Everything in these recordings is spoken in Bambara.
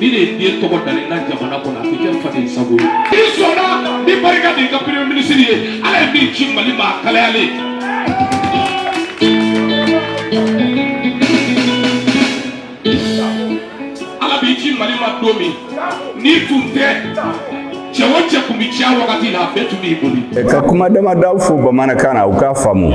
ni de ye den tɔgɔ dalen na jamana kɔnɔ a bɛ kɛ faden sago ye. n'i sɔnna ni barika de y'i ka premier ministre ye ala ye min ci mali ma a kalayalen. ala b'i ci mali ma don min n'i tun tɛ cɛ o cɛ tun bɛ cɛya wagati la a bɛɛ tun b'i boli. ka kuma damadaw fo bamanankan na u k'a faamu.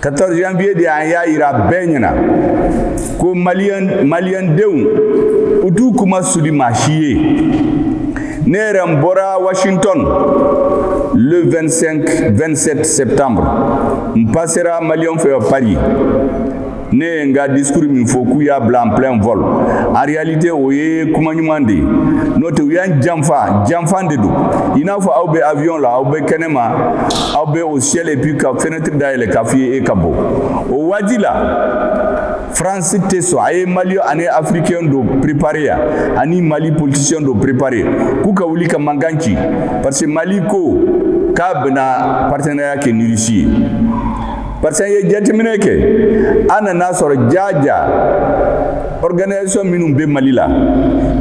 14 janvier de an y'a yira bɛɛ ɲɛna ko maliyɛn maliyɛndenw u t'u kunmasuli maa si ye ne yɛrɛ n bɔra washington le 25 27 septembre n pasera maliyɛnw fɛ paris ne ye n ka discours min fɔ k'u y'an bila en plein vol en réalité o ye kuma ɲuman de ye n'o tɛ u y'an janfa janfa de don i n'a fɔ aw bɛ avion la aw bɛ kɛnɛma aw bɛ au ciel et puis ka fɛnɛ fenêtre dayɛlɛ k'a f'i ye e ka bɔ o waati la France tɛ sɔn a ye Mali ani Africain dɔ préparer yan ani Mali politicien dɔ préparer k'u ka wuli ka mankan ci parce que Mali ko k'a bɛna partenariat kɛ ni Russie ye parce que an ye jateminɛ kɛ an nan'a sɔrɔ jaaja organisation minnu bɛ mali la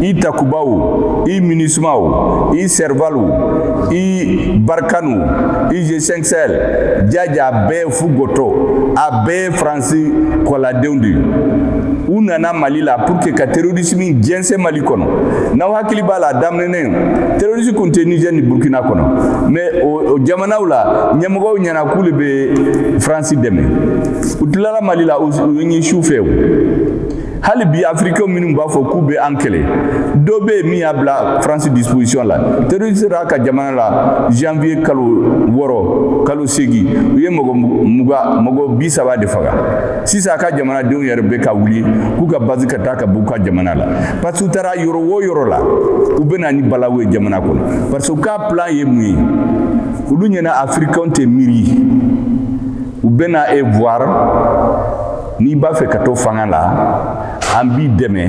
i Takuba o i MINUSMA o i Serval o i Barkhane o i G5 Sahel jaaja a bɛɛ fu goto a bɛɛ faransi kɔladenw de u nana mali la pour que ka terorisimi jɛnsɛn mali kɔnɔ n'aw hakili b'a la a daminɛnen terorisi kun tɛ nizɛr ni burkina kɔnɔ mais o jamanaw la ɲɛmɔgɔw ɲɛna k'u le bɛ faransi dɛmɛ u tilala mali la u ye su fɛ hali bi afirikɛnw minnu b'a fɔ k'u bɛ an kɛlɛ dɔ bɛ yen min y'a bila faransi disposition la terroriste b'a ka jamana la janvier kalo wɔɔrɔ kalo seegin u ye mɔgɔ muga mɔgɔ bi saba de faga sisan a ka jamanadenw yɛrɛ bɛ ka wuli k'u ka base ka taa ka b'u ka jamana la parce que u taara yɔrɔ o yɔrɔ la u bɛ na ni balawu ye jamana kɔnɔ parce que u ka plan ye mun ye olu ɲɛna afirikɛnw tɛ miiri u bɛna e voir n'i b'a fɛ ka to fanga la an b'i dɛmɛ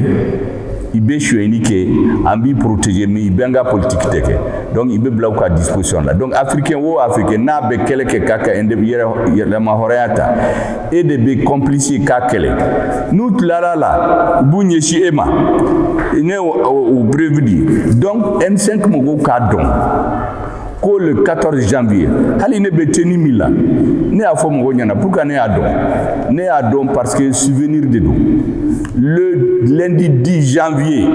i bɛ sonyɛni kɛ an b'i protéger mais i bɛ an ka politique de kɛ donc i b'i bila u ka disposition la donc africain o africain n'a bɛ kɛlɛ kɛ k'a ka yɛrɛmahɔrɔnya ta e de bɛ complice ye k'a kɛlɛ n'u tilara a la u b'u ɲɛsin e ma ne y'aw prévenir donc M5 mɔgɔw k'a dɔn. ko le 14 janvier hali ne bɛ tenue min la ne y'a fɔ mɔgɔw ɲɛna pourquoi ne y'a don ne y'a don parce que souvenir de don le lundi 10 janvier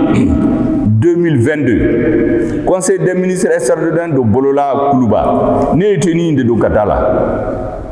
2022 conseil des ministres extraordinaire dɔ bolola kuluba ne ye tenue in de don ka taa a la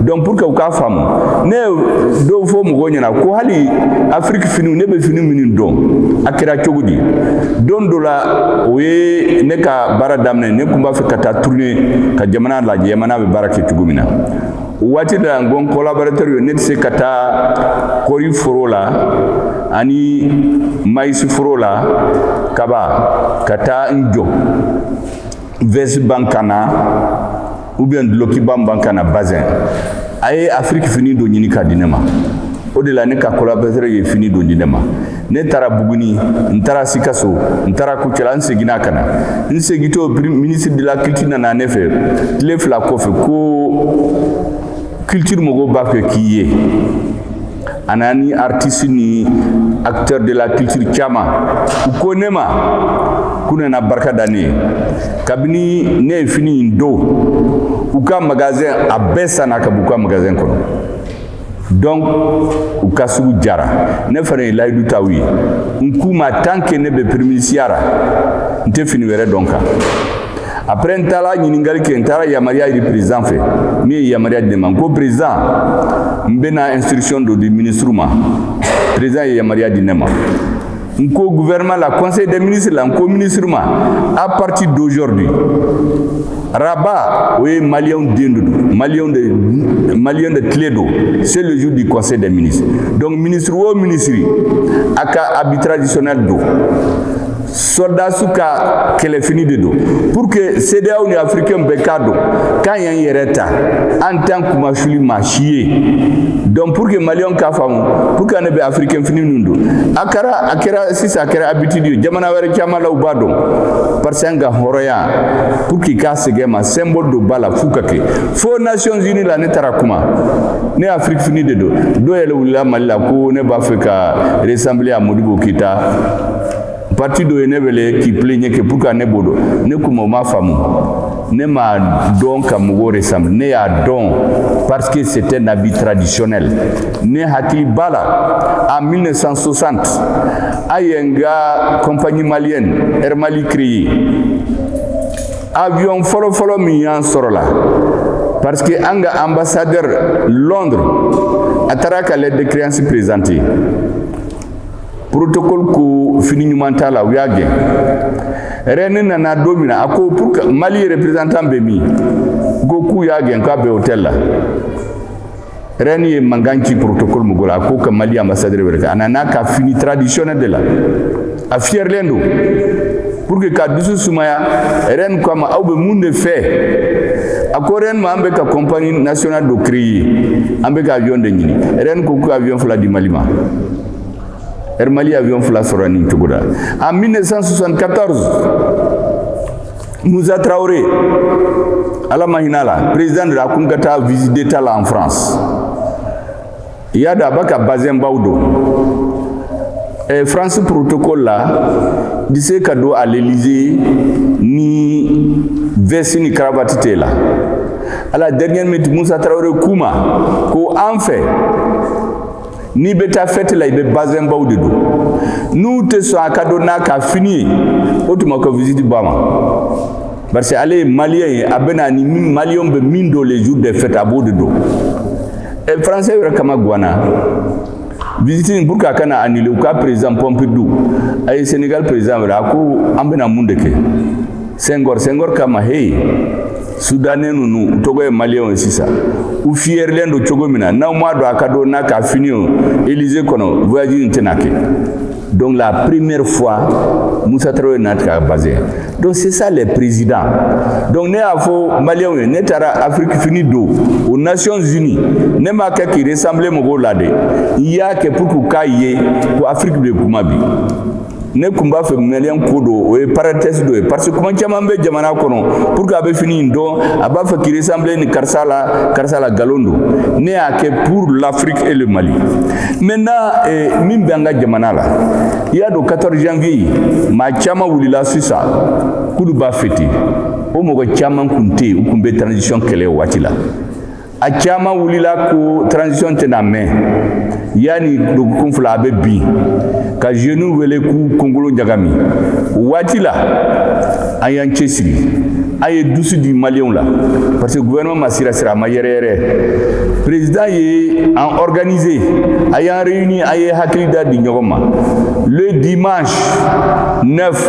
donc pour que u k'a faamu ne ye dɔ fɔ mɔgɔw ɲɛna ko hali afiriki finiw ne bɛ fini minnu don a kɛra cogo di don dɔ la o ye ne ka baara daminɛ ne tun b'a fɛ ka taa turune ka jamana lajɛ jamana bɛ baara kɛ cogo min na o waati de la n ko n collaborateur ye ne tɛ se ka taa kɔri foro la ani mayisi foro la kaba ka taa n jɔ vɛsi bɛ n kan na ou bien dulɔkiba bɛ n kan na bazɛn a ye afiriki fini dɔ ɲini ka di ne ma o de la ne ka collaborateur ye fini dɔ di ne ma ne taara buguni n taara sikaso n taara kucala n seginna ka na n segitɔ ministre de la culture nana ne fɛ tile fila kɔfɛ ko kilitiri mɔgɔw b'a fɛ k'i ye a nana ni aritisi ni acteur de la culture caman u ko ne ma k'u nana barika da ne ye kabini ne ye fini in don u ka magasin a bɛɛ sanna ka b'u ka magasin kɔnɔ donc u ka sugu jara ne fana ye layidu ta u ye n k'u ma tant que ne bɛ piriminisiriya ra n tɛ fini wɛrɛ don n kan après n taara ɲininkali kɛ n taara yamaruya ɲini président fɛ min ye yamaruya di ne ma n ko président n bɛna instruction dɔ di ministre ma président ye yamaruya di ne ma n ko gouvernement la conseil des ministres la n ko ministrew ma à partir d'aujourd'hui araba o ye maliyɛnw den de don maliyɛnw de maliyɛn de tile don c'est le jour du conseil des ministres donc ministre o ministre a ka habit traditionnel don sɔrɔdasiw ka kɛlɛfini de don pour que CEDEAO ni afirikɛnw bɛɛ k'a dɔn k'an y'an yɛrɛ ta an t'an kunmasuli maa si ye donc pour que maliyɛnw k'a faamu pourquoi ne bɛ afirikɛn fini ninnu don a kɛra a kɛra sisan a kɛra habitude ye jamana wɛrɛ caman la u b'a don parce que an ka hɔrɔnya pour que k'a segin an ma symbole dɔw b'a la f'u ka kɛ fo Nations Unies la ne taara kuma ne afiriki fini de don dɔw yɛrɛ wulila mali la ko ne b'a fɛ ka ressembler à Modibo Keyita pati dɔ ye ne wele k'i pilɛɲɛ que pourquoi ne b'o don ne k'u ma a m'a faamu ne m'a don ka mɔgɔ ressembler ne y'a don parce que c'est un habit traditionnel ne hakili b'a la en 1960 a y'an ka compagnie malienne air mali créé avion fɔlɔfɔlɔ min y'an sɔrɔ la parce que an ka ambassadeur londres a taara a ka lettre de créance présenter protocole ko fini ɲuman t'a la u y'a gɛn reine nana don min na a ko pour que mali représentant bɛ min ko k'u y'a gɛn k'a bɛ hôtel la reine ye mankan ci protocole mɔgɔ la a ko ka mali ambassadeur wele k'a nana a ka fini traditionnel de la a fiyɛrilen don pour que k'a dusu sumaya reine ko a ma aw bɛ mun de fɛ a ko reine ma an bɛ ka compagnie nationale dɔ créer an bɛ ka avion de ɲini reine ko ka avion fila di mali ma Air Mali avion fila sɔrɔla nin cogo la en 1974 Moussa Traoré ala ma hinɛ a la président de la a kun ka taa visite d'état la en France i y'a dɔn a b'a ka bazin baw don eh, France protocole la i tɛ se ka don à l'Élysée ni veste ni cravate tɛ i la à la dernière minute Moussa Traoré k'u ma ko an fɛ n'i bɛ taa fɛti la i bɛ bazɛnbaw de don n'u tɛ sɔn a ka don n'a ka fini ye o tuma ko visite banna parce que ale ye maliyɛn ye a bɛ na ni maliyɛnw bɛ min don les jours de fête a b'o de don ɛ eh, français yɛrɛ kamagwanna visite in pour que a kana annuler u ka président Pompidou a ye Sénégal président wele a ko an bɛna mun de kɛ Senghor Senghor k'a ma heyi soudanais ninnu tɔgɔ ye maliyɛnw ye sisan u fiyɛrilen don cogo min na n'aw m'a to a ka don n'a ka fini ye Élysée kɔnɔ voyage in tɛna kɛ donc la première fois Moussa Traoré n'a tigɛ a bazin donc c'est ça les présidents donc ne y'a fɔ maliyɛnw ye ne taara Afrique fini don aux Nations Unies ne m'a kɛ k'i ressembler mɔgɔw la dɛ n y'a kɛ pour que u k'a ye ko Afrique de kuma bi ne kun b'a fɛ maliyɛnw k'o dɔn o ye parenthèse dɔ ye parce que kuma caman bɛ jamana kɔnɔ pour que a bɛ fini in don a b'a fɛ k'i ressemble ni karisa la nkalon don ne y'a kɛ pour l'afrique et le mali maintenant eh, min bɛ an ka jamana la i y'a dɔn 14 janvier maa caman wulila sisan k'olu b'a fêter o mɔgɔ caman kun tɛ yen u kun bɛ transition kɛlɛ o waati la a caman wulila ko transition tɛna mɛn yanni dogokun fila a bɛ bin ka jeunes wele k'u kunkolo ɲagami o waati la an y'an cɛsiri an ye dusu di maliyɛnw la parce que gouvernement ma sirasira a ma yɛrɛyɛrɛ président ye an organisé a y'an réuni an ye hakilila di ɲɔgɔn ma le dimanche 9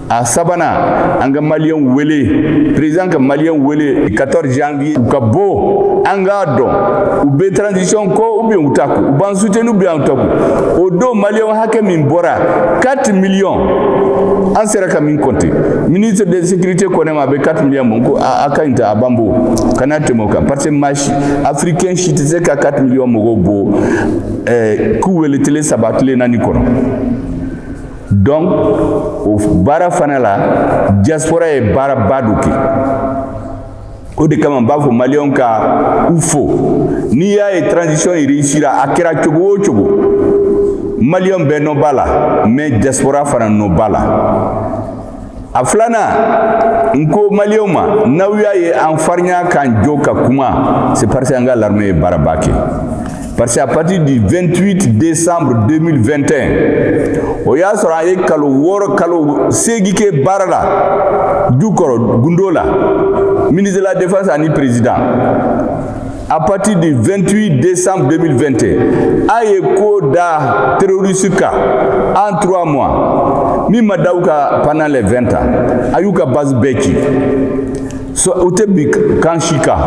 a sabanan an ka maliyɛnw wele président ka maliyɛnw wele 14 janvier u ka bɔ an k'a dɔn u bɛ transition kɔ ou bien u t'a kɔ u b'an soutenu ou bien u t'a kɔ o don maliyɛnw hakɛ min bɔra 4 millions an sera ka min kɔnte ministre de sécurité ko ne ma a bɛ 4 millions bɔ n ko a ka nin ta a b'an bɔ kana tɛmɛ o kan parce que maa si africain si tɛ se ka 4 millions mɔgɔw bɔ ɛɛ k'u wele tile saba tile naani kɔnɔ donc o baara fana la diaspora ye baaraba dɔ kɛ o de kama n b'a fɔ maliyɛnw ka u fo n'i y'a ye transition in réussira a kɛra cogo o cogo maliyɛnw bɛɛ nɔ b'a la mais diaspora fana nɔ b'a la a filanan n ko maliyɛnw ma n'aw y'a ye an farinya k'an jɔ ka kuma c'est parce que an ka larme ye baaraba kɛ parce que à partir du 28 décembre 2021 o y'a sɔrɔ a ye kalo wɔɔrɔ kalo seegin kɛ baara la jukɔrɔ gundo la ministre de la défense ani président à partir du 28 décembre 2021 a ye ko da terroristes kan en 3 mois min ma da u kan pendant les 20 ans a y'u ka base bɛɛ ci u tɛ bin camp si kan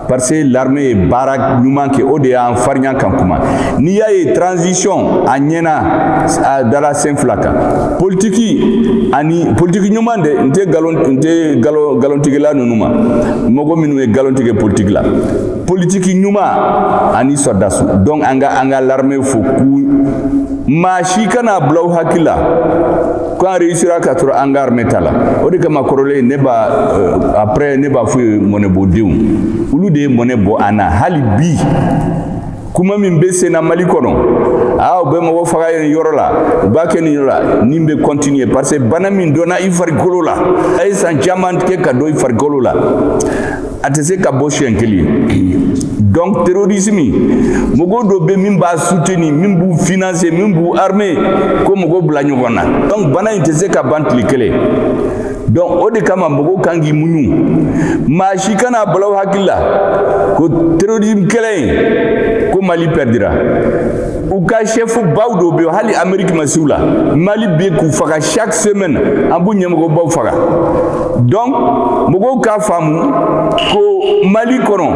parce que larme ye baara ɲuman kɛ o de y'an farinya ka kuma n'i y'a ye transition a ɲɛna dala sen fila kan politiki ani politiki ɲuman de n tɛ nkalontigɛla ninnu ma mɔgɔ minnu ye galon tigɛ politiki la politiki ɲuman ani sɔrɔdasi donc an ka an ka larme fo ko maa si kan'a bila u hakili la ko an réussira ka sɔrɔ an ka armée t'a la o de kama kɔrɔlen ne b'a euh, après ne b'a f'u ye mɔnɛbɔdenw olu de ye mɔnɛ bɔ an na hali bi kuma min bɛ senna mali kɔnɔ aa u bɛ mɔgɔ faga yen yɔrɔ la u b'a kɛ nin yɔrɔ la nin bɛ kɔntiniye parce que bana min dɔnna i farikolo la a ye san caman kɛ ka don i farikolo la a tɛ se ka bɔ siɲɛ kelen donc terrorisme mɔgɔ dɔ bɛ min b'a soutenir min b'u financer min b'u armer k'o mɔgɔw bila ɲɔgɔn na donc bana in tɛ se ka ban tile kelen donc o de kama mɔgɔw kan k'i muɲu maa si kan'a bila u hakili la ko terrorisme kɛlɛ in ko mali pɛrdira u ka chef baw dɔw bɛ hali ameriki ma se u la mali bɛ k'u faga chaque semaine an b'u ɲɛmɔgɔ baw faga donc mɔgɔw k'a faamu ko mali kɔnɔ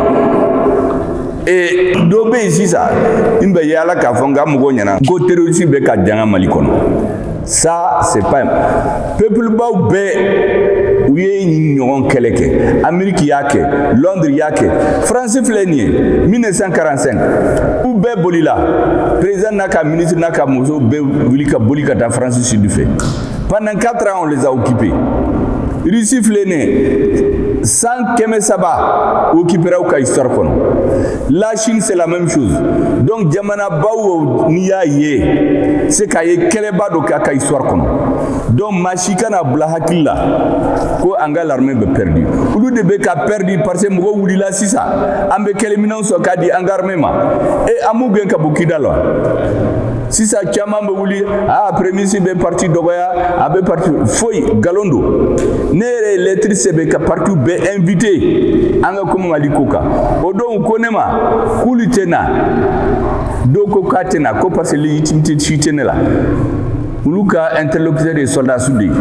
e dɔ bɛ yen sisan n bɛ yaala k'a fɔ n ka mɔgɔw ɲɛ na ko terroriste bɛ ka danga mali kɔnɔ ça c'est pas peuple-baw bɛɛ u ye nin ɲɔgɔn kɛlɛ kɛ ameriki y'a kɛ londres y'a kɛ france filɛ nin ye 1945 u bɛɛ bolila président n'a ka ministre n'a ka muso bɛɛ wuli ka boli ka taa france sud fɛ pendant 4 ans on les a occupés russie filɛ nin ye san kɛmɛ saba occupera u ka histoire kɔnɔ La Chine c'est la même chose donc jamanabaw n'i y'a ye c'est qu'a ye kɛlɛba dɔ k'a ka histoire kɔnɔ donc maa si kana bila hakili la ko an ka l'armée bɛ perdu olu de bɛ ka perdu parce que mɔgɔ wulila sisan an bɛ kɛlɛminɛnw sɔrɔ k'a di an ka armée ma e an b'u gɛn ka bɔ kidali sisan caman bɛ wuli aa premier ministre bɛ parti dɔgɔya a bɛ parti foyi nkalon don ne yɛrɛ ye lɛtiri sɛbɛn ka partiw bɛɛ invité an ka kuma mali ko kan u dɔw ko ne ma k'olu tɛ na dɔw ko k'a tɛ na ko parce que légitimité si tɛ ne la olu ka interlocuteur ye sɔrɔdasiw de ye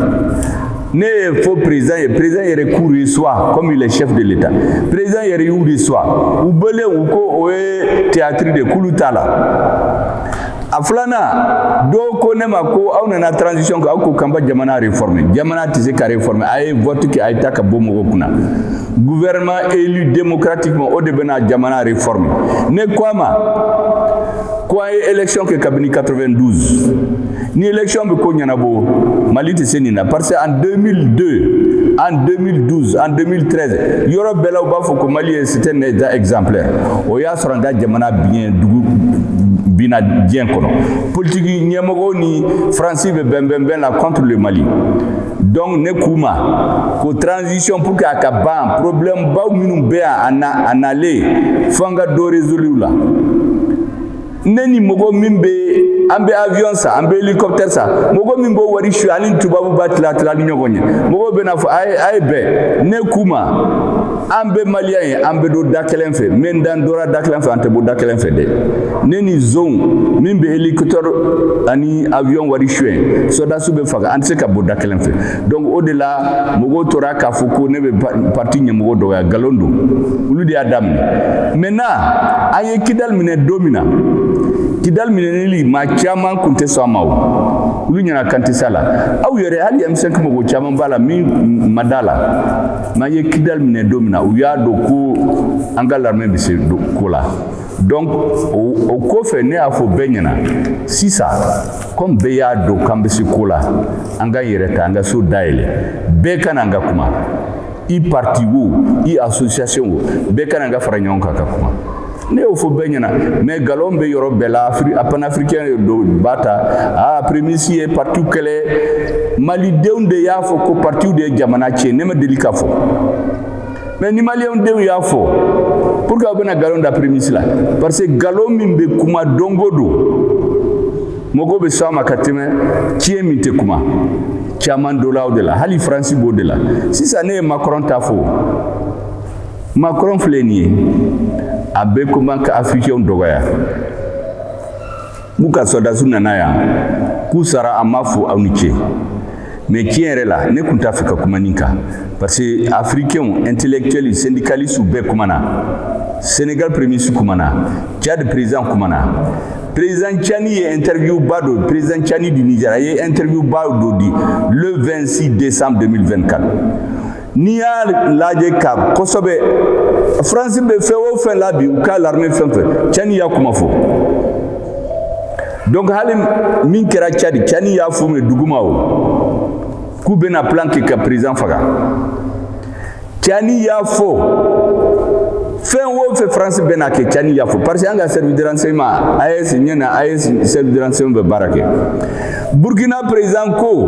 ne y'a fɔ président ye président yɛrɛ k'u reçoit comme il est chef de l'état président yɛrɛ y'u reçoit u bɔlen u ko o ye théâtre de k'olu t'a la a filanan dɔw ko ne ma ko aw nana transition kɛ aw ko k'an bɛ jamana réformer jamana tɛ se ka réformer a ye vote kɛ a ye taa ka bɔ mɔgɔw kunna gouvernement élu démocratiquement o de bɛna jamana réformer ne ko a ma ko an ye élection kɛ kabini 92 ni élection bɛ ko ɲɛnabɔ mali tɛ se nin na parce que en 2002 en 2012 en 2013 yɔrɔ bɛɛ la u b'a fɔ ko mali ye c'était un état exemplaire o y'a sɔrɔ an ka jamana biɲɛ dugu binna dingɛ kɔnɔ politiki ɲɛmɔgɔw ni faransi bɛ bɛnbɛnbɛn la contre le mali Donc ne k'u ma ko transition pour que a ka ban problème baw minnu bɛ yan an nalen fo an ka dɔ résoudre u la ne ni mɔgɔ min bɛ an bɛ avion san an bɛ hélicoptère san mɔgɔ min b'o wari suɲɛ a ni tubabu b'a tila tila ni ɲɔgɔn ye mɔgɔw bɛn'a fɔ a ye a ye bɛn ne k'u ma an bɛɛ malien ye an bɛ don da kelen fɛ mais n'an dora da kelen fɛ an tɛ bɔ da kelen fɛ dɛ ne ni zonw min bɛ hélicoptère ani avion wari suɲɛ sɔrɔdasiw bɛ faga an tɛ se ka bɔ da kelen fɛ donc o de la mɔgɔw tora k'a fɔ ko ne bɛ parti ɲɛmɔgɔ dɔgɔya nkalon don olu de y'a daminɛ maintenant an ye kidali minɛ don min na kidali minɛnili maa caman kun tɛ sɔn a ma o olu ɲɛna k'an tɛ s'a la aw yɛrɛ hali m5 mɔgɔ caman b'a la min ma d'a la mais an ye kidali minɛ don min na u y'a dɔn ko an ka l'armée bɛ se ko la donc o kɔfɛ ne y'a fɔ bɛɛ ɲɛna sisan comme bɛɛ y'a dɔn k'an bɛ se ko la an k'an yɛrɛ ta an ka so dayɛlɛ bɛɛ ka na an ka kuma i parti wo i association wo bɛɛ ka na an ka fara ɲɔgɔn kan ka kuma ne y'o fɔ bɛɛ ɲɛna mais galon bɛ yɔrɔ bɛɛ la a panafirikɛn dɔ b'a ta a premisi ye parti kɛlɛ malidenw de y'a fɔ ko partiw de ye jamana tiɲɛ ne ma deli k'a fɔ mais ni maliyɛnw de y'a fɔ pourquoi aw bɛna galon da premisi la parce que galon min bɛ kuma don o don mɔgɔw bɛ sɔn a ma ka tɛmɛ tiɲɛ min tɛ kuma caman dolaw de la hali faransi b'o de la sisan ne ye makɔrɔn ta fɔ Macron filɛ nin ye a bɛ kuma ka afirikɛnw dɔgɔya k'u ka sɔrɔdasiw nana yan k'u sara an m'a fɔ aw ni ce mais tiɲɛ yɛrɛ la ne tun t'a fɛ ka kuma nin kan parce que afirikɛnw intellectuels syndicalistes bɛɛ kumana senegal premier ministre kumana tchad président kumana président tchani ye interview ba dɔ président tchani du niger a ye interview ba dɔ di le 26 décembre 2024 N'i y'a lajɛ ka kosɛbɛ faransi bɛ fɛn o fɛn la bi u ka l'armée fɛn fɛn tchani y'a kuma fɔ donc hali min kɛra tchad tchani y'a f'u ye duguma o k'u bɛna plan kɛ ka président faga tchani y'a fɔ fɛn o fɛn faransi bɛna kɛ tchani y'a fɔ parce que an ka service de renseignement AES ɲɛ na AES service de renseignement bɛ baara kɛ burkina président ko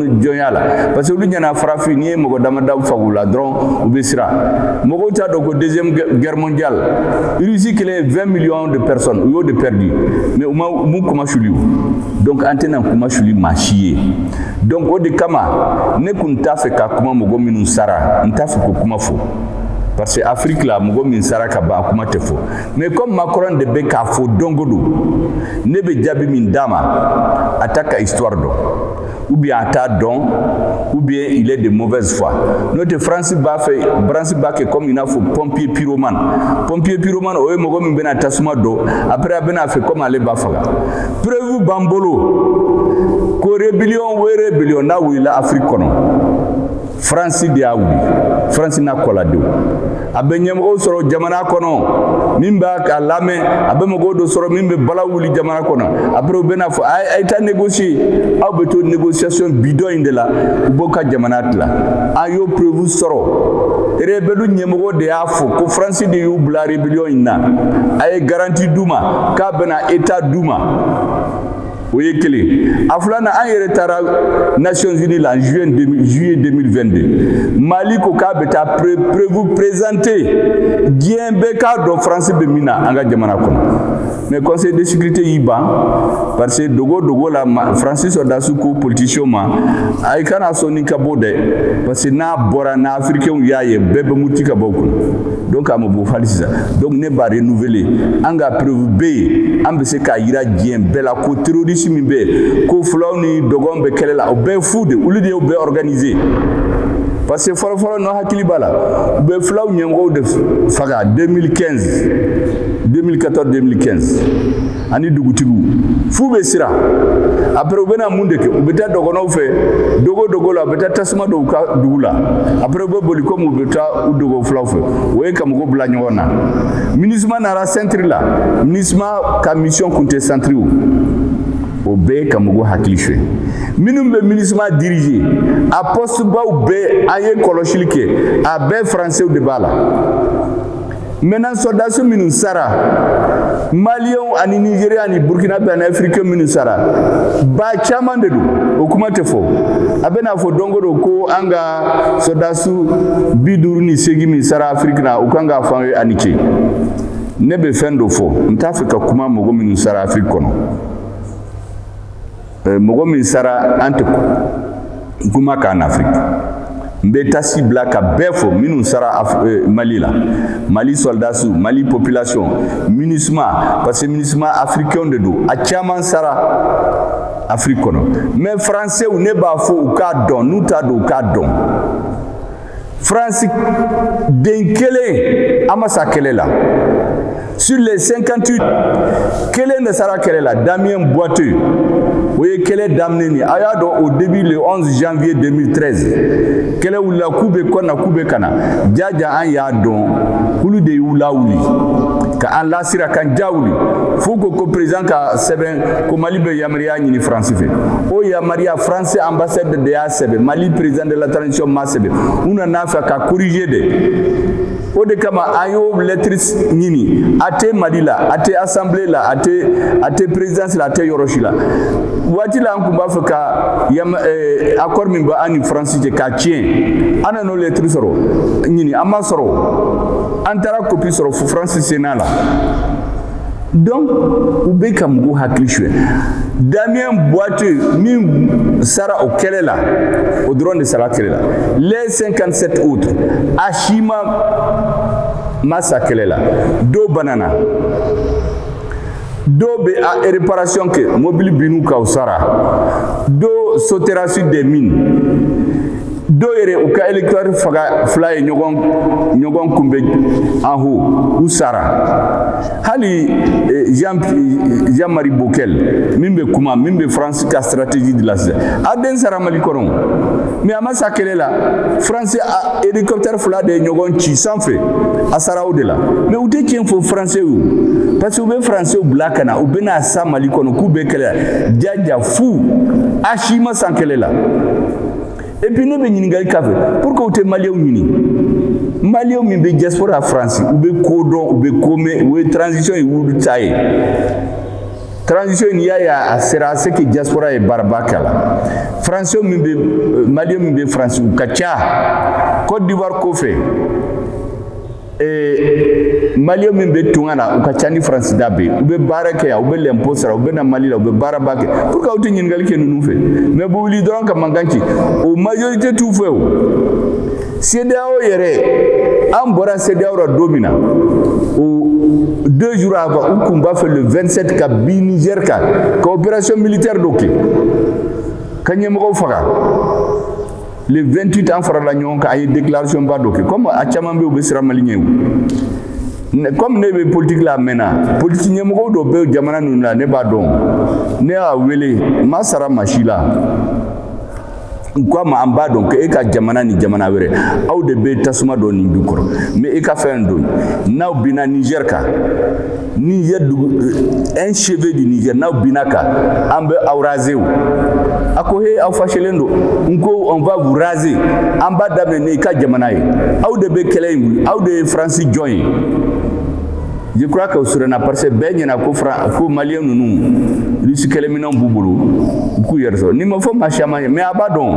jɔnya la parce que olu ɲɛna farafin n'i ye mɔgɔ damadɔ fag'u la dɔrɔn u bɛ siran mɔgɔw t'a dɔn ko deuxième guerre mondiale Russie kelen ye 20 millions de personnes u y'o de perdu mais u m'u kun masuli o donc an tɛn'an kun masuli maa si ye donc o de kama ne kun t'a fɛ ka kuma mɔgɔ minnu sara n t'a fɛ k'o kuma fɔ parce que afiriki la mɔgɔ min sara ka ban a kuma tɛ fɔ mais comme makɔrɔn de bɛ k'a fɔ don o don ne bɛ jaabi min d'a ma a t'a ka histoire dɔn ou bien a t'a dɔn ou bien il est de mauvaise foi n'o tɛ faransi b'a fɛ faransi b'a kɛ comme i n'a fɔ pompier pyromane pompier pyromane o ye mɔgɔ min bɛna tasuma don après a bɛna a fait comme ale b'a faga preuve b'an bolo ko rébellion o rébellion n'a wulila afiriki kɔnɔ faransi de y'a wuli faransi n'a kɔladenw a bɛ ɲɛmɔgɔ sɔrɔ jamana kɔnɔ min b'a kan lamɛn a bɛ mɔgɔ dɔ sɔrɔ min bɛ balawu wuli jamana kɔnɔ après u bɛn'a fɔ a ye taa négocier aw bɛ to négociation bidon in de la u b'aw ka jamana tila an y'o preuve sɔrɔ rebelu ɲɛmɔgɔ de y'a fɔ ko faransi de y'u bila rébellion in na a ye garanti d'u ma k'a bɛna état d'u ma o ye kelen a filanan an yɛrɛ taara nations unis la juillet 2022 mali ko k'a bɛ taa preuve présenter diɲɛ bɛɛ k'a dɔn faransi bɛ min na an ka jamana kɔnɔ mais conseil de sécurité y'i ban parce que dogo dogo la faransi sɔrɔdasiw ko politicienw ma a i kana sɔn nin ka bɔ dɛ parce que n'a bɔra n'afirikɛnw y'a ye bɛɛ bɛ muruti ka bɔ kun donc a ma bɔ hali sisan donc ne b'a renouveler an ka preuve bɛ yen an bɛ se k'a jira diɲɛ bɛɛ la ko terroriste min bɛ yen ko fulaw ni dɔgɔn bɛ kɛlɛ la o bɛɛ ye fu de olu de y'o bɛɛ organiser parce que fɔlɔfɔlɔ n'aw hakili b'a la u bɛ fulaw ɲɛmɔgɔw de faga 2015 2014 2015 ani dugutigiw f'u bɛ siran après u bɛna mun de kɛ u bɛ taa dɔgɔnɔw fɛ dogo dogo la u bɛ taa tasuma don u ka dugu la après u bɛ boli komi u bɛ taa u dogo fulaw fɛ o ye ka mɔgɔw bila ɲɔgɔn na minisma nara sɛntiri la minisma ka mission kun tɛ sɛntiri u bɛ ka mɔgɔw hakili suɲɛ minnu bɛ minisma dirige a pɔsitibaw bɛɛ an ye kɔlɔsili kɛ a bɛɛ faransɛw de b'a la Maintenant sɔldasi minnu sara maliyɛn ani nizeriyɛn ani burukinabɛ ani afirikɛn minnu sara ba caman de don o kuma tɛ fɔ a bɛ n'a fɔ don o don ko an ka sɔldasiw bi duuru ni seegin min sara afiriki na u ka kan k'a f'an ye a ni ce ne bɛ fɛn dɔ fɔ n t'a fɛ ka kuma mɔgɔ minnu sara afiriki kɔnɔ eh, mɔgɔ min sara an tɛ kuma k'an afiriki n bɛ taasi bila ka bɛɛ fo minnu sara eh, mali la mali sɔldasiw mali population minisuma parce que minisuma afirikɛnw de don a caman sara afiriki kɔnɔ mɛ faransɛw ne b'a fɔ u k'a dɔn n'u t'a dɔn u k'a dɔn Faransi den kelen a ma sa kɛlɛ la sur les 58 kelen de sara kɛlɛ la Damien Boiteux o ye kɛlɛ daminɛ ni a y'a dɔn au début le 11 janvier 2013 kɛlɛ wulila k'u bɛ Kɔna k'u bɛ ka na jaja an y'a dɔn k'olu de y'u lawuli ka an lasiran k'an ja wuli f'u ko ko président ka sɛbɛn ko Mali bɛ yama ya ɲini faransi fɛ o yamaruya faransi anbasadi de y'a sɛbɛn mali perezidan de la taransisiyɔn m'a sɛbɛn u nana fɛ ka korize de o de kama an y'o lɛtiri ɲini a tɛ mali la a tɛ asanbile la a tɛ a tɛ perezidansi la a tɛ yɔrɔ si la waati la an tun b'a fɛ ka yama eh, akɔri min bɛ an ni faransi cɛ k'a tiɲɛ an nan'o lɛtiri sɔrɔ ɲini an m'a sɔrɔ an taara kopi sɔrɔ faransi Sénat la donc u bɛ ka mɔgɔw hakili suɲɛ Damien Boiteux min sara o kɛlɛ la o dɔrɔn de sara kɛlɛ la les 57 autres a si ma ma sa kɛlɛ la dɔw banana dɔw bɛ a réparation kɛ mobili binn'u kan u sara dɔw sotera sur des mines dɔw yɛrɛ u ka hélicoptère faga fila ye ɲɔgɔn ɲɔgɔn kunbɛn en haut u sara hali eh, jean jean marie bockel min bɛ kuma min bɛ faransi ka stratégie de la sisan a den sara mali kɔnɔ mais a ma sa kɛlɛ la faransi hélicoptère fila de ye ɲɔgɔn ci sanfɛ a sara o de la mais u tɛ tiɲɛ fɔ faransiw ye parce que u bɛ faransiw bila ka na u bɛna sa mali kɔnɔ k'u bɛ kɛlɛ jaja fu a si ma sa kɛlɛ la et puis ne bɛ ɲininkali k'a fɛ pourquoi u tɛ maliyɛnw ɲini maliyɛnw min bɛ diaspora faransi u bɛ ko dɔn u bɛ ko mɛn u ye transition ye olu ta ye transition in y'a ye a sera c'est que diaspora ye baaraba k'a la faransiw min bɛ euh, maliyɛnw min bɛ faransi u ka ca cote d'ivoire kɔfɛ ee maliyɛnw min bɛ tunga na u ka ca ni faransi da bɛ u bɛ baara kɛ yan u bɛ lɛnpo sara u bɛ na mali la u bɛ baaraba kɛ pourquoi aw tɛ ɲininkali kɛ ninnu fɛ mais u bɛ wuli dɔrɔn ka mankan ci o majorite t'u fɛ o CEDEAO yɛrɛ an bɔra CEDEAO la don min na o deux jours avant u kun b'a fɛ le 27 ka bin Niger kan ka opération militaire dɔ kɛ ka ɲɛmɔgɔw faga le 28 an farala ɲɔgɔn kan an ye déclaration ba dɔ kɛ comme a caman bɛ u bɛ siran mali ɲɛ comme ne bɛ politique la a mɛnna politique ɲɛmɔgɔw dɔ bɛ jamana ninnu la ne b'a dɔn ne y'a wele n ma sara maa si la n ko a ma an b'a dɔn ko e ka jamana ni jamana wɛrɛ aw de bɛ tasuma don nin jukɔrɔ mais e ka fɛn dɔn n'aw binna Niger kan ni ye dugu un cheveu du Niger n'aw binna a kan an bɛ aw raser o a ko he aw fâchélen don n ko on va vous raser an b'a daminɛ n'i ka jamana ye aw de bɛ kɛlɛ in wuli aw de ye France jɔn ye je crois que o siranna parce que bɛɛ ɲɛna ko Fran ko maliyɛn ninnu Russie kɛlɛminɛnw b'u bolo u k'u yɛrɛ sɔrɔ nin ma fɔ maa caman ye mais a b'a dɔn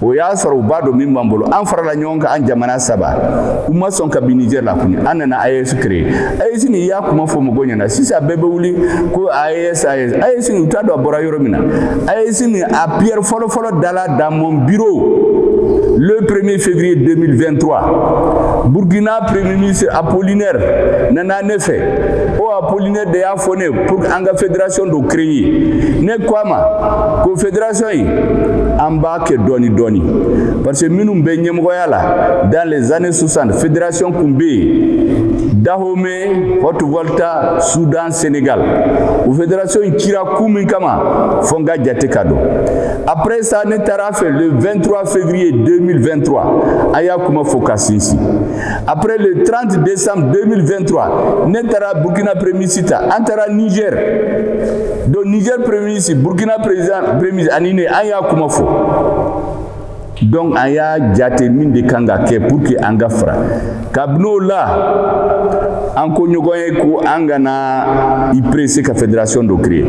o y'a sɔrɔ u b'a dɔn min b'an bolo an farala ɲɔgɔn kan an jamana saba u ma sɔn ka bin nijɛri la kuni an nana AES créer AES nin i y'a kuma fɔ mɔgɔw ɲɛna sisan bɛɛ bɛ wuli ko AES AES AES nin u t'a dɔn a bɔra yɔrɔ min na AES nin a pierre fɔlɔfɔlɔ dala dans mon bureau le 1er février 2023 burkina premier ministre apollinaire nana ne fɛ o apollinaire de y'a fɔ ne ye pour que an ka fédération dɔ créer ne ko a ma ko fédération in an b'a kɛ dɔɔni dɔɔni parce que minnu bɛ ɲɛmɔgɔya la dans les années 60 fédération kun bɛ yen Dahomey, Haute Volta, Soudan, Sénégal. O fédération in cira kun min kama fo an k'a jate k'a dɔn. Après ça ne taara a fɛ le 23 février 2023 an y'a kuma fɔ k'a sinsin. Après le 30 décembre 2023, ne taara Burkina Premier ministre ta, an taara Niger. Donc Niger Premier ministre, Burkina président Premier ministre ani ne an y'a kuma fɔ. Donc an y'a jate mun de kan ka kɛ pour que an ka fara ka bɔ nɔgɔ la, an ko ɲɔgɔn ye ko an kana i presser ka fédération dɔ créer.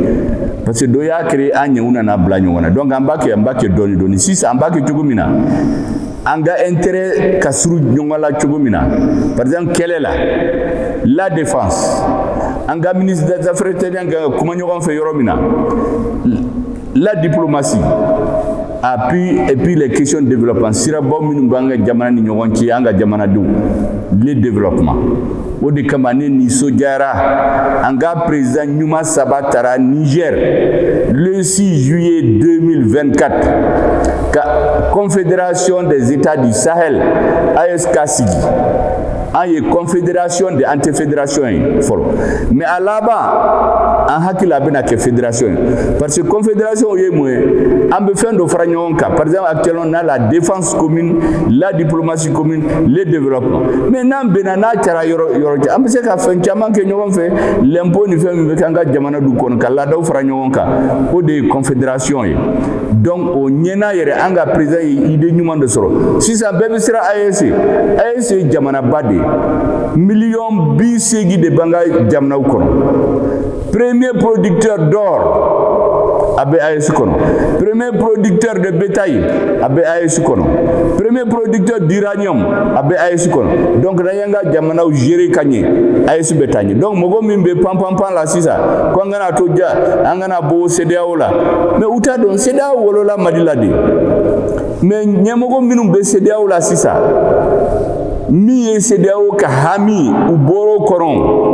Parce que dɔ y'a créer an ɲɛ u nana bila ɲɔgɔn na. Donc an b'a kɛ an b'a kɛ dɔɔni dɔɔni. Sisan an b'a kɛ cogo min na an ka intérêt ka surun ɲɔgɔn la cogo min na par exemple kɛlɛ la la défense an ka ministre des affaires étrangères kan ka kuma ɲɔgɔn fɛ yɔrɔ min na la diplomatie et puis les questions de développement sirabaw minnu b'an ka jamana ni ɲɔgɔn cɛ an ka jamanadenw le développement O de kama ne nisɔndiyara an ka président ɲuman saba taara niger le 6 juillet 2024 ka confédération des états du sahel AES k'a sigi an ye confédération de an tɛ fédération ye fɔlɔ mais a laban an hakili la a bɛna kɛ fédération ye parce que confédération ye mun ye an bɛ fɛn dɔ fara ɲɔgɔn kan par exemple actuellement on a la défense commune la diplomatie commune le développement mais n'an bɛnna n'a kɛra yɔrɔ yɔrɔ cɛ an bɛ se ka fɛn caman kɛ ɲɔgɔn fɛ lɛnpo ni fɛn min bɛ kɛ an ka jamana du kɔnɔ ka laadaw fara ɲɔgɔn kan o de ye confédération ye donc o ɲɛna yɛrɛ an ka président ye idée ɲuman de sɔrɔ sisan bɛɛ bɛ siran AES ye AES ye jamanaba de ye miliyɔn bi seegin de b'an ka jamanaw kɔnɔ premier producteur d'or a bɛ AES kɔnɔ premier producteur de bétail a bɛ AES kɔnɔ premier producteur d'uranium a bɛ AES kɔnɔ donc n'an y'an ka jamanaw gérer ka ɲɛ AES bɛ taa ɲɛ donc mɔgɔ min bɛ pam pam pam la sisan ko an kana to ja an kana bɔ CEDEAO la mais u t'a dɔn CEDEAO wolola Mali la de mais ɲɛmɔgɔ minnu bɛ CEDEAO la sisan min ye CEDEAO ka hami u bɔr'o kɔrɔ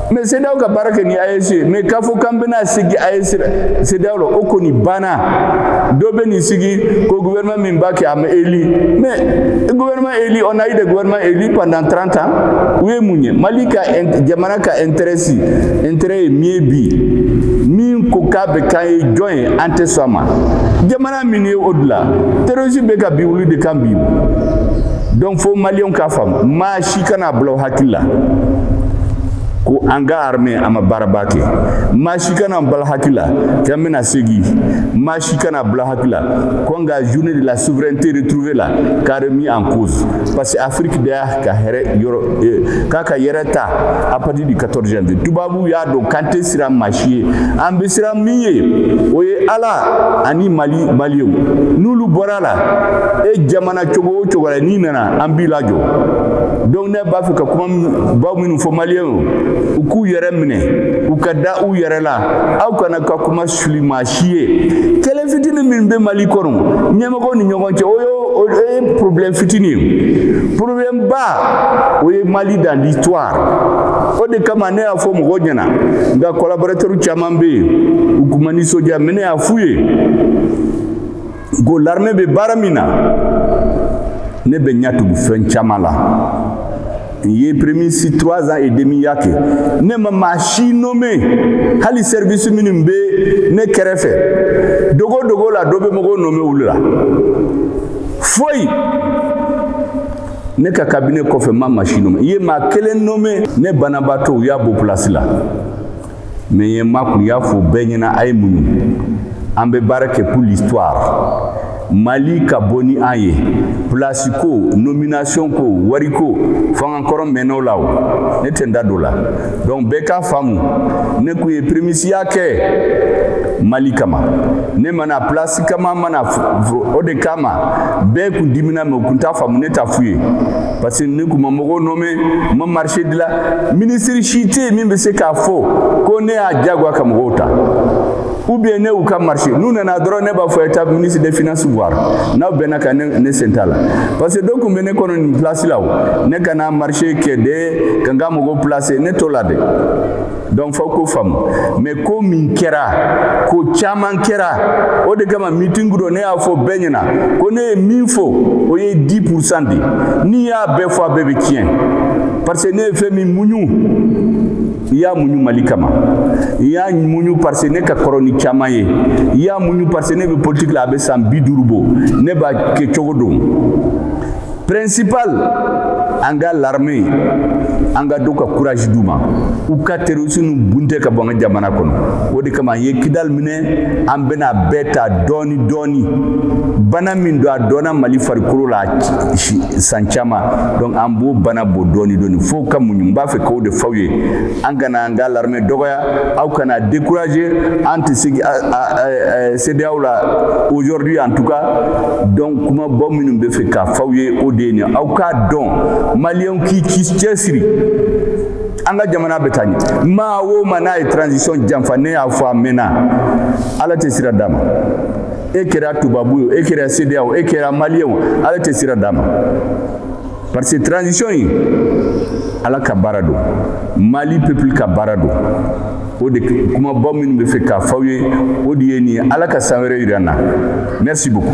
mais CEDEAO ka baara kɛ ni AES mais k'a fɔ k'an bɛna segin CEDEAO la o kɔni banna dɔ bɛ nin sigi ko gouvernement min b'a kɛ a ma élu mais gouvernement élu on a eu des gouvernements élus pendant 30 ans u ye mun ɲɛ mali ka jamana ka intérêt si intérêt ye min ye bi min ko k'a bɛ k'an ye jɔn ye an tɛ sɔn a ma jamana min ye o de la terrorisme bɛ ka bin olu de kan bi donc fo maliyɛnw k'a faamu si kana bila aw hakili la ko an ka armée a ma baara ba kɛ maa si kana bila aw hakili la k'an bɛna segi maa si kana bila aw hakili la ko an ka journée de la souveraineté retrouvée la k'a remis en cause parce que Afrique de y'a ka hɛrɛ yɔrɔ eh, k'a ka yɛrɛ ta à partir du 14 janvier tubabu y'a dɔn k'an tɛ siran maa si ye an bɛ siran min ye o ye Ala ani Mali maliyɛnw n'olu bɔr'a la e jamana cogo o cogo la n'i nana an b'i lajɔ donc ne b'a fɛ ka kuma baw minnu fɔ maliyɛnw u k'u yɛrɛ minɛ u ka da u yɛrɛ la aw kana ka kunmasuli maa si ye kɛlɛ fitini min bɛ mali kɔnɔ ɲɛmɔgɔw ni ɲɔgɔn cɛ o ye o ye problème fitini ye problème ba o ye mali dans l'histoire o de kama ne y'a fɔ mɔgɔw ɲɛna n ka collaborateur caman bɛ yen u kun ma nisɔndiya mais ne y'a f'u ye ko laremɛ bɛ baara min na ne bɛ ɲɛ tugu fɛn caman la n ye premisi trois ans et demi ya kɛ ne ma maa si nome hali service minnu bɛ ne kɛrɛfɛ dogo dogo la dɔ bɛ mɔgɔw nome olu la foyi ne ka kabine kɔfɛ ma maa si nome n ye maa kelen nome ne banabaatɔ u y'a bɔ place la mais ye ma kun y'a fɔ bɛɛ ɲɛna a ye muɲu an bɛ baara kɛ pour l'histoire Mali ka bon ni an ye place ko nomination ko wariko fangankɔrɔ mɛn'o la o ne tɛ n da don o la donc bɛɛ k'a faamu ne kun ye primisiya kɛ Mali kama ne ma na place kama n ma na o de kama bɛɛ kun dimina mais u kun t'a faamu ne t'a f'u ye parce que ne kun ma mɔgɔw nɔmɛ n ma marché dila minisiri si tɛ yen min bɛ se k'a fɔ ko ne y'a diyagoya ka mɔgɔw ta ou bien ne y'u ka marché n'u nana dɔrɔn ne b'a f'u ye taa ministre des finances voir n'aw bɛnna a kan ne sen t'a la parce que dɔw kun bɛ ne kɔnɔ nin place la o ne ka na marché kɛ de ka n ka mɔgɔw placer ne t'o la dɛ donc fo k'o faamu mais ko min kɛra ko caman kɛra o de kama mitingu dɔ ne y'a fɔ bɛɛ ɲɛna ko ne ye min fɔ o ye dix pour cent de n'i y'a bɛɛ fɔ a bɛɛ bɛ tiɲɛ parce que ne ye fɛn min muɲu i y'a muɲu mali kama i y'a muɲu parce que ne ka kɔrɔ ni caman ye i y'a muɲu parce que ne bɛ politiki la a bɛ san bi duuru bɔ ne b'a kɛcogo dɔn principal an ka larme an ka to ka courage d'u ma u ka terroriste nu bunte ka bɔ an ka jamana kɔnɔ o de kama an ye kidal minɛ an bɛna bɛɛ ta dɔɔni dɔɔni bana min don a dɔnna mali farikolo la san caman donc an b'o bana bɔ dɔɔni dɔɔni fo ka muɲu n b'a fɛ k'o de f'aw ye an kana an ka laremɛ dɔgɔya aw kana dekuraje an tɛ sigi CEDEAO la aujourd'hui en tout cas donc kuma baw minnu n b'a fɛ k'a f'aw ye o de ye nin aw k'a dɔn maliyɛn k'i cɛsiri an ka jamana bɛ taa ɲɛ maa o maa n'a ye transition janfa ne y'a fɔ a mɛnna ala tɛ sira d'a ma e kɛra tubabu ye e kɛra CEDEAO e kɛra maliyɛn o ala tɛ sira d'a ma parce que transition in ala ka baara don mali peuple ka baara don o de kumaba minnu bɛ fɛ k'a f'aw ye o de ye nin ye ala ka san wɛrɛ yira an na merci beaucoup